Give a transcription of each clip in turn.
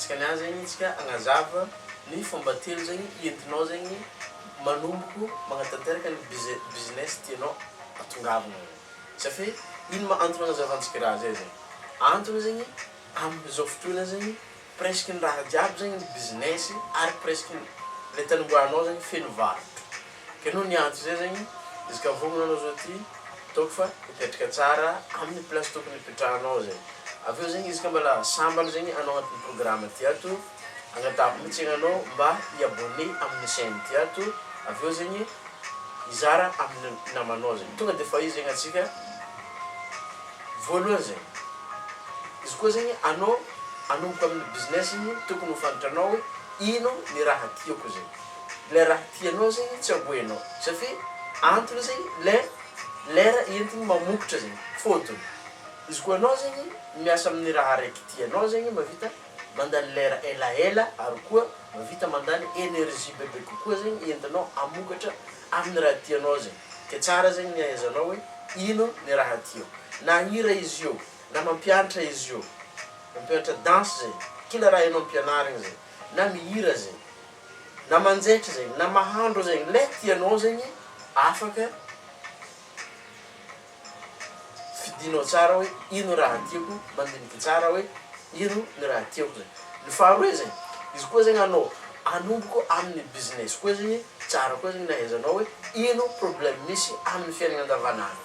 Dikan'ny any zegny tsika agnazava ny fomba telo zegny entinao zegny manomboko magnatanteraka ny business tianao atongavana zegny safe ino ma antony agnazavantsika raha zay zegny antony zegny amizao fotoana zegny presque ny raha jiaby zegny ny business ary presque ny le tanimboahanao zegny feno varotra Keno ny antso zay zegny izy ka vonona anao zao ty ataoko fa mipetraka tsara aminy place tokony hipetrahanao zay aveo zegny izy ka mbala sambany zegny anao agnatin'ny programme ty ato agnatahako mitsy zegny anao mba hi abonne aminy chaine ty ato aveo zegny hizara aminy namanao zegny tonga de fa io zegny atsika voalohany zegny izy koa zegny anao anomboka aminy business igny tokony ho fantatra anao hoe ino ny raha tiako zegny. le raha tianao zegny tsy aboenao satria antony zegny le lera entigny mamokotra zegny fôtony izy koa anao zegny miasa amin'ny raha araiky tianao zegny mavita mandany lera elaela ary koa mavita mandany energie bebe kokoa zegny entinao amokatra amin'ny raha tianao zegny ke tsara zegny ny ahaizanao hoe ino ny raha tiao na hira izy io na mampiantra izy io mampiantra danse zegny kila raha enao ampianarigny zegny na mihira zegny na manjaitra zegny na mahandro zegny le tianao zegny afaka fidinao tsara hoe ino raha tiako mandiniky tsara hoe ino ny raha tiako zegny ny faharoe zegny izy koa zegny anao anomboko aminy business koa zegny tsara koa zegny nahaizanao hoe ino problème misy aminy fiainana andavanandro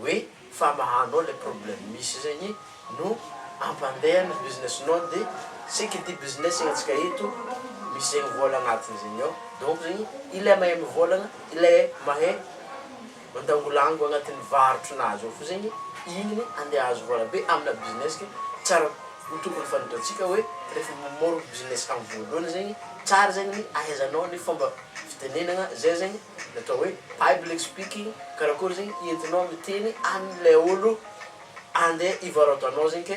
hoe famahanao le problème misy zegny no ampandehany ny business nao de ce qui dit business ny antsika eto misy zegny vôla agnatiny zegny ao donc zegny ilay mahay mivôlagna ilay mahay mandangolango agnatin'ny varotrinazy ao fo zegny igny ande ahazo vôla be amina business ke tsara ho tokony fanitantsika hoe refa mamôro business am vôlohany zegny tsara zegny ny ahaizanao ny fomba fitenenagna zay zegny Ny atao hoe public speaking karakory zegny entinao miteny anle olo ande ivarotanao zegny ke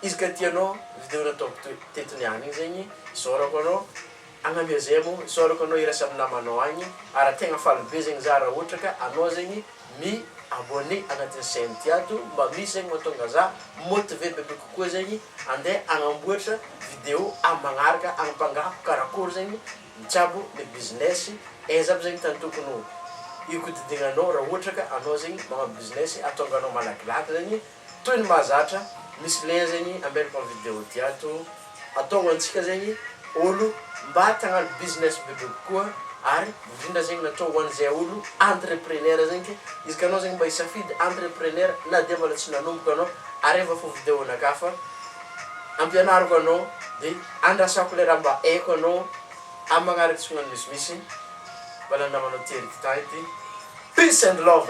izy ka tianao video nataoko teto niany igny zegny isaorako anao agnamia zay mo isaorako anao iraisa amy namanao agny ary tegna faly be zegny za ra ohatra ka anao zegny mi abonne agnatiny chaine ty ato mba misy zegny matonga za motiver bebe kokoa zegny ande agnamboatra video amy magnaraka agnampangaho karakory zegny Mitsabo le business aiza aby zegny tany tokony ho ikodidignanao ra ohatra ka anao zegny manao business atonganao malakilaky zegny toy ny mahazatra misy lien zegny ametrako am video ty ato atonga antsika zegny olo mba te agnano business bebe kokoa ary indrindra zegny natao ho an'izay olo entrepreneur zegny ke izy ka anao zegny mba hisafidy entrepreneur na dia mbola tsy nanomboka anao ary efa fo video nakafa ampianariko anao de andrasako le raha mba haiko anao am magnaraka tsy magnano misimisy mba nandramanao tery gitah ity peace and love.